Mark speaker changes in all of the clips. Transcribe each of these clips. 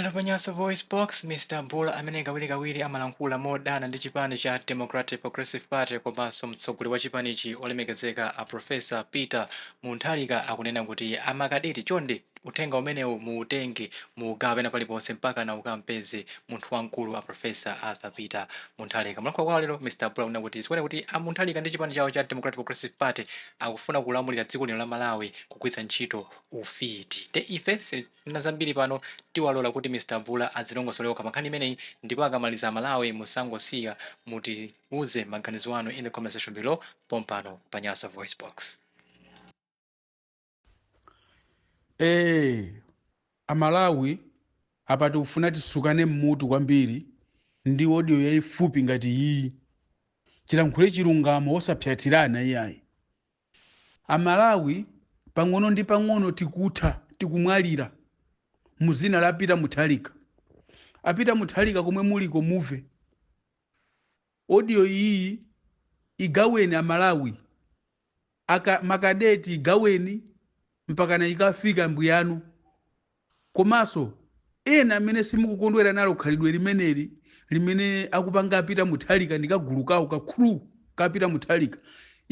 Speaker 1: Pano pa Nyasa VoiceBox, Mr Bulla amene kawirikawiri amalankhula modana ndi chipani cha Democratic Progressive Party komanso mtsogoleri wa chipanichi olemekezeka a Professor Peter Muntharika akunena kuti makadeti chonde uthenga umenewu muutenge muugawe pena paliponse mpakana ukampeze munthu wamkulu a Professor Arthur Peter Muntharika. M'kulankhula kwawo lero, Mr Bulla akunena kuti zikuoneka kuti a Muntharika ndi chipani chawo cha Democratic Progressive Party akufuna kulamulira dziko lino la Malawi kugwiritsa ntchito ufiti. Nde ife si. na zambiri pano tiwalola kuti Mr Bulla adzilongosole okha pankhani imeneyi ndipo akamaliza amalawi musangosiya kutiuza maganizo anu in the comment section below pompano pa Nyasa VoiceBox.
Speaker 2: Eee amalawi apa tikufuna tisukane mmutu kwambiri ndi audio yaifupi ngati iyi tilankhule chilungamo osapsatirana iyayi A Malawi pang'ono ndi pang'ono tikutha, tikumwalira mu zina la Peter Mutharika. A Peter Mutharika komwe muliko muve audio iyi igaweni a Malawi makadeti igaweni mpakana ikafika mbwiyanu. Komanso, ena amene simukukondwera nalo khalidwe limeneli limene akupanga a Peter Mutharika ndi kagulu kawo ka crew ka Peter Mutharika,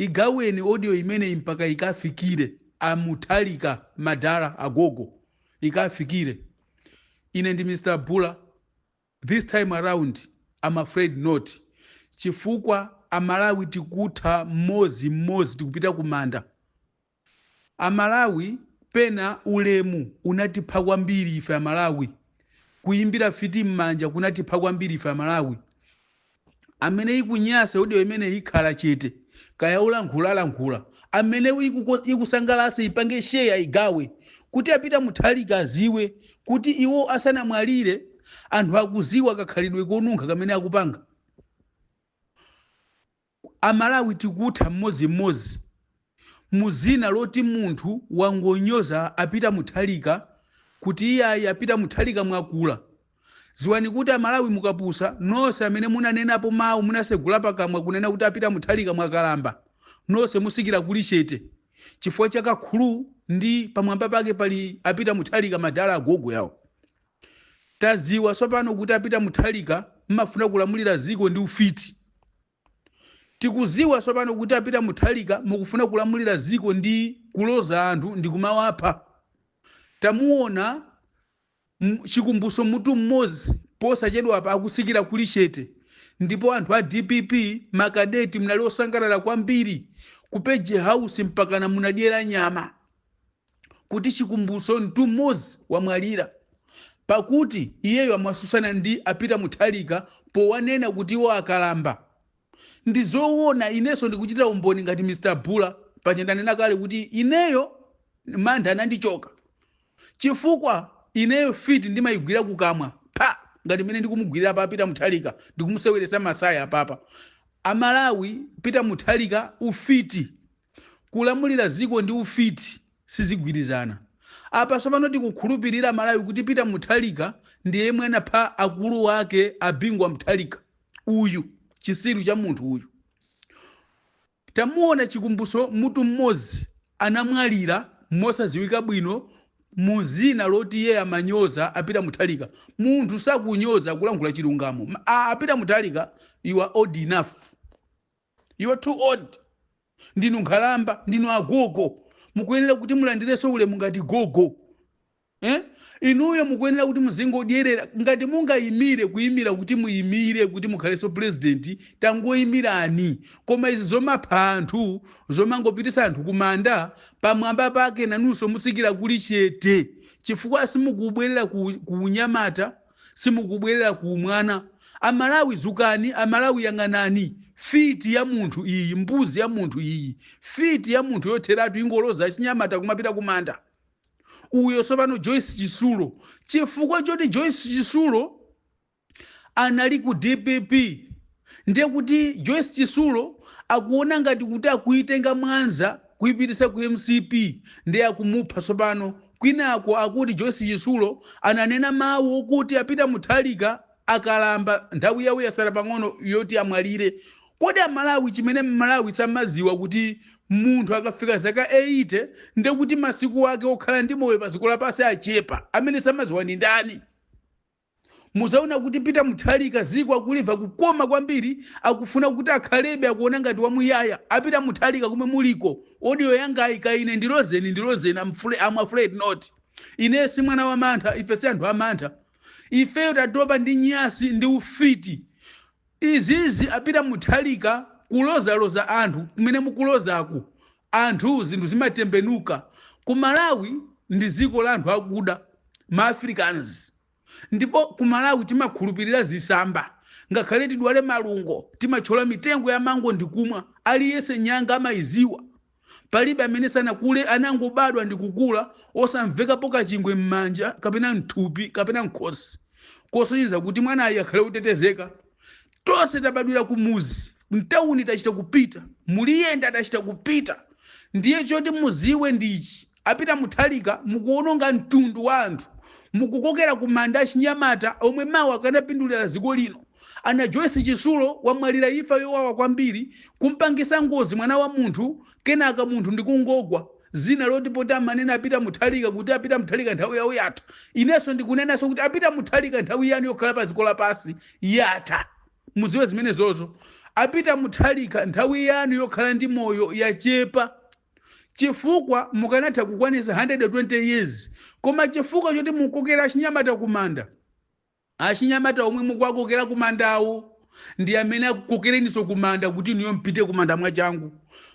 Speaker 2: igaweni audio imeneyi mpaka ikawafikire a Mutharika, madala, agogo, ikafikire. Ine ndi Mr. Bula, this time around, am afraid not, chifukwa a Malawi tikutha m'modzi m'modzi tikupita ku manda. Amalawi pena ulemu unatipha kwambiri ife amalawi kuyimbira fiti mmanja kunatipha kwambiri ife amalawi amene ikunyasa audio imeneyi ikhala chete kaya ulankhula alankhula amene iku- ikusangalasa ipange share ayigawe kuti a Peter Mutharika aziwe kuti iwo asanamwalire anthu akuziwa kakhalidwe konunkha kamene akupanga Amalawi tikutha mmodzi mmodzi muzina loti munthu wangonyoza a Peter Mutharika kuti iyayi a Peter Mutharika mwakula. Ziwani kuti amalawi mukapusa nonse amene munanenapo mau munasegula pakamwa kunena kuti a Peter Mutharika mwakalamba nonse musikira kuli chete chifukwa cha ka crew ndi pamwamba pake pali a Peter Mutharika madala agogo awo. Taziwa sopano kuti a Peter Mutharika mmafuna kulamulira ziko ndi ufiti. Tikuziwa sopano kuti a Peter Mutharika mukufuna kulamulira ziko ndi kuloza anthu ndi kumawapha. Tamuona Chikumbutso Mtumodzi posachedwapa akusikira kuli chete ndipo anthu a dpp makadeti munali osangalala kwambiri ku Page House mpakana munadyera nyama kuti chikumbutso mtumodzi wamwalira pakuti iyeyo amasusana ndi a peter mutharika powanena kuti iwo akalamba ndi zoona inenso ndikuchitira umboni ngati mr bula paja ndanena kale kuti ineyo mantha anandichoka chifukwa ineyo fiti ndimayigwira kukamwa pa ngati mmene ndikumugwirira pa peter mutharika ndikumuseweretsa masaya apapa amalawi peter mutharika ufiti Kulamulira dziko ndi ufiti sizigwirizana. Apa tsopano tikukhulupilira amalawi kuti Peter Mutharika ndi yemwe anapha akulu ake a Bingu wa Mutharika uyu. Chisiru cha munthu uyu. Tamuona Chikumbutso Mtumodzi anamwalira mosadziwika bwino mu dzina loti iye amanyoza a Peter Mutharika. Munthu sakunyoza kulankhula chilungamo. A Peter Mutharika you are old enough. You are too old. Ndinu nkhalamba, ndinu agogo. Mukuyenera kuti mulandireso ulemu ngati gogo. Eh? Inuyo mukuyenera kuti muzingodyerera ngati mungayimire kuyimira kuti muyimire kuti mukhaleso president tangoyimirani. Koma izi zomapha anthu, zomangopitisa anthu kumanda pamwamba pake nanunso musikira kuli chete. Chifukwa simukubwerera ku, ku unyamata simukubwerera ku umwana amalawi dzukani amalawi yang'anani fiti ya munthu iyi mbuzi ya munthu iyi fiti ya munthu yotheratu ingoloza achinyamata kumapita kumanda uyo tsopano joyce chitsulo chifukwa choti joyce chitsulo anali ku dpp ndiye kuti joyce chitsulo akuona ngati kuti akuitenga mwanza kuipitisa ku mcp ndiye akumupha tsopano kwinako akuti joyce chitsulo ananena mawu okuti a peter mutharika akalamba nthawi yawo yasala pang'ono yoti amwalire kodi amalawi chimene mmalawi samaziwa kuti munthu akafika zaka 80 ndiye kuti masiku ake okhala ndi moyo padziko lapansi achepa amene samaziwa ndi ndani Muzaona kuti Peter Mutharika ziko akuliva kukoma kwambiri akufuna kuti akhalebe akuona ngati wamuyaya a Peter Mutharika komwe muliko audio yangayi ka ine ndilozeni ndilozeni I'm, fl I'm afraid not ine si mwana wa mantha ife si anthu amantha ifeyo tatopa ndi nyasi ndi ufiti Izizi a Peter Mutharika kulozaloza anthu kumene mukulozaku anthu zinthu zimatembenuka ku Malawi ndi ziko la anthu akuda ma Africans ndipo ku Malawi timakhulupilira zisamba ngakhale tidwale malungo timatchola mitengo ya mango ndikumwa aliyense nyanga amayiziwa palibe amene sanakule anangobadwa ndi kukula osamvekapo kachingwe m'manja kapena mthupi kapena mkhosi kosonyeza kuti mwanayo akhale otetezeka tonse tabadwira kumuzi mtawuni tachita kupita muliyenda tachita kupita ndiye choti muziwe ndichi A Peter Mutharika mukuononga mtundu wa anthu, mukukokera kumanda achinyamata omwe mawa akanapindulira dziko lino. A Najoyce Chisulo wamwalira imfa yowawa kwambiri, kumpangisa ngozi mwana wa munthu kenaka munthu ndikungogwa. Dzina lake loti poti amanena a Peter Mutharika kuti a Peter Mutharika nthawi yawo yatha. Inenso ndikunenanso kuti a Peter Mutharika nthawi yanu yokhala pa dziko lapansi yatha. Mudziwe zimenezozo. A Peter Mutharika nthawi yanu yokhala ndi moyo yachepa. chifukwa mukanatha kukwanisa 120 years koma chifukwa choti mukukokera achinyamata kumanda achinyamata omwe mukuwakokera kumandawo ndi amene akukokereniso kumanda kuti inuyo mupite kumanda mwachangu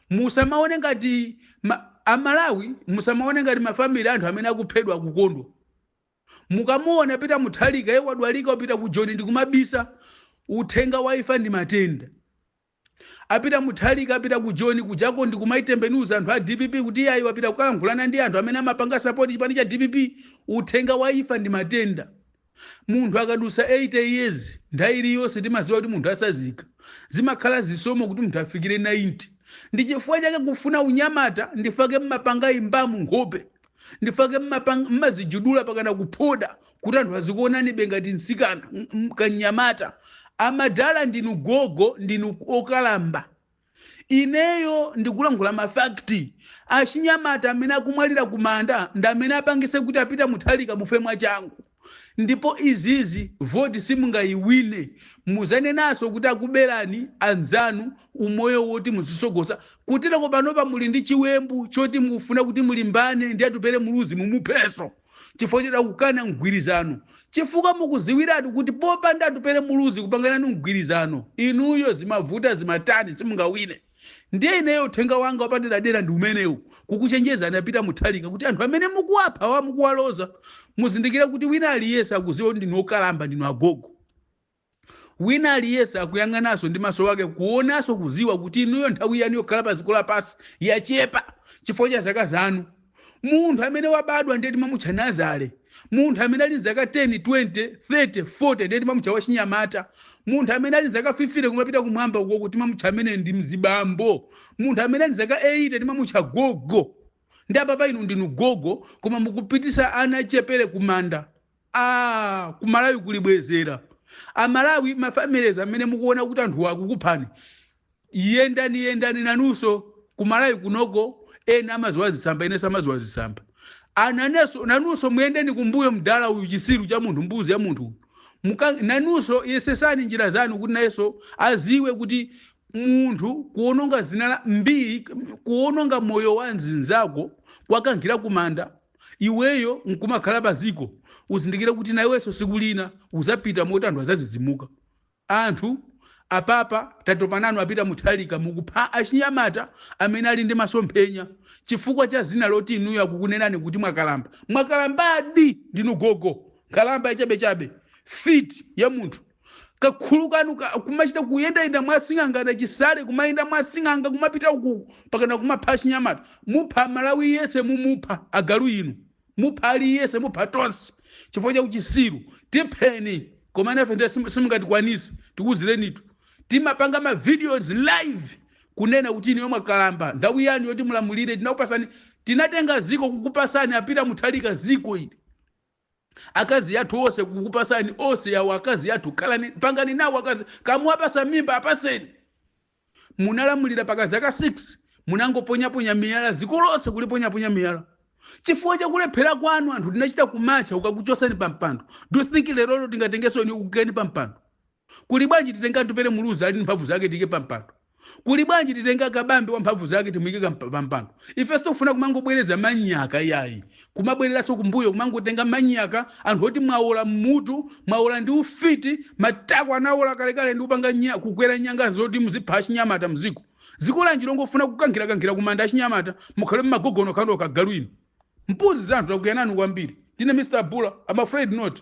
Speaker 2: musamaone ngati ma, amalawi musamaone ngati mafamili anthu amene akuphedwa akukondwa mukamuona Peter Mutharika yeye wadwalika kupita ku Joni ndikumabisa uthenga wa imfa ndi matenda A Peter Mutharika apita ku Joni kujako ndi kumaitembenuza anthu a dpp kuti iyayi wapita kukalankhulana ndi anthu amene amapanga sapoti chipani cha dpp. Uthenga wa imfa ndi matenda. Munthu akadutsa 80 years nthawi iliyonse timaziwa kuti munthu atsazika. Zimakhala zisomo kuti munthu afikire 90. Ndi chifukwa chake kufuna unyamata nchifukwa chake mumapanga imbamu nkhope. nchifukwa chake mumapang- mumadzijudula mpakana kuphoda kuti anthu azikuonanibe ngati mtsikana m- m- kanyamata amadala ndinu gogo ndinu okalamba ineyo ndikulankhula mafakti achinyamata amene akumwalira kumanda ndi amene apangise kuti a Peter Mutharika mufe mwachangu Ndipo zizizi vote simungayiwine muzanenanso kuti akuberani anzanu umoyo woti muzitsogoza kuteloko panopa muli ndi chiwembu choti mukufuna kuti mulimbane ndi Atupele Muluzi mumuphenso chifukwa choti akukana mgwirizano chifukwa mukuziwiratu kuti popanda Atupele Muluzi kupanga nanu mgwirizano inuyo zimavuta zimatani simungawine. Ndiye ineyo uthenga wanga wapaderadera ndi umenewu, kukuchenjezani a Peter Mutharika kuti anthu amene mukuwaphawa mukuwaloza muzindikire kuti wina aliyese akuziwa kuti ndinu okalamba ndinu agogo. Wina aliyese akuyang'anaso ndi maso wake kuonaso kuziwa kuti inuyo nthawi yanu yokhala pa dziko lapasi yachepa chifukwa cha zaka zanu. munthu amene wabadwa ndiye timamutcha nazale munthu amene ali mzaka 10 20 30 40 ndiye timamutcha wachinyamata munthu amene ali mzaka 50 kumapita kumwamba ukoko timamutcha amene ndi mzibambo munthu amene ali mzaka 80 timamutcha gogo ndiye apapa inu ndinu gogo koma mukupititsa anachepere kumanda Aaa ku Malawi kulibwezera. A Malawi ma families amene mukuona kuti anthuwa akukuphani. Yendani yendani nanunso ku Malawi kunoko ena amaziwa zitsamba ena samaziwa zitsamba. Ananenso nanunso muyendeni kumbuyo mdala uyu chisiru cha munthu mbuzi ya munthu. uyu. Muka nanunso yesetsani njira zanu kuti nayenso aziwe kuti munthu kuononga zina la mbii kuononga moyo wa nzinzako kuwakankhira kumanda iweyo nkumakhala paziko uzindikire kuti naweso siku lina uzapita moti anthu azazizimuka anthu apapa tatopa nanu a Peter Mutharika mukupha achinyamata amene ali ndi masomphenya chifukwa cha zina loti inuyo akukunenani kuti mwakalamba mwakalambadi ndinu gogo nkhalamba yachabechabe fiti ya munthu kakulu kanu ka- kumachita kuyendayenda mwa sing'anga nda Chisale kumayenda mwa sing'anga kumapita uku pakana kumapha achinyamata mupha Malawi yese mumupha agalu inu mupha ali yese mupha tonse chifukwa cha uchisiru tipheni koma ifefe ndiye sim- simungatikwanise tikuzirenitu timapanga ma videos live kunena kuti inuyo mwakalamba nthawi yanu yoti mulamulire tinakupasani tinatenga ziko kukupasani a Peter Mutharika ziko ili akazi athu onse kukupasani onse awo akazi athu khalani pangani nawo akazi ngati muwapasa mimba apaseni munalamulira paka zaka 6 munangoponyaponya miyala ziko lonse kuliponyaponya miyala chifukwa chakulephera kwanu anthu tinachita kumatcha kukakuchosani pampando do you think lerolo tingatengesoni tikuikeni pampando Kuli bwanji titenge Atupele Muluzi ali ndi mphamvu zake timuike pa mpando? Kuli bwanji titenge a Kabambe wa mphamvu zake timuike ka mpa- pa mpando? Ife sitikufuna kumangobwereza manyaka yayi, kumabwereranso kumbuyo, kumangotenga manyaka anthu oti mwaola m'mutu, mwaola ndi ufiti, matako anaola kalekale ndi kupanga nya, kukwera nyanga zoti muzipha achinyamata mziko. Dziko lanji longofuna kukankhirakankhira kumanda achinyamata, mukhale ma gogo nokhanokha agalu inu. Mbuzi za anthu takwiya nanu kwambiri. Ndine Mr. Bula, I'm afraid not.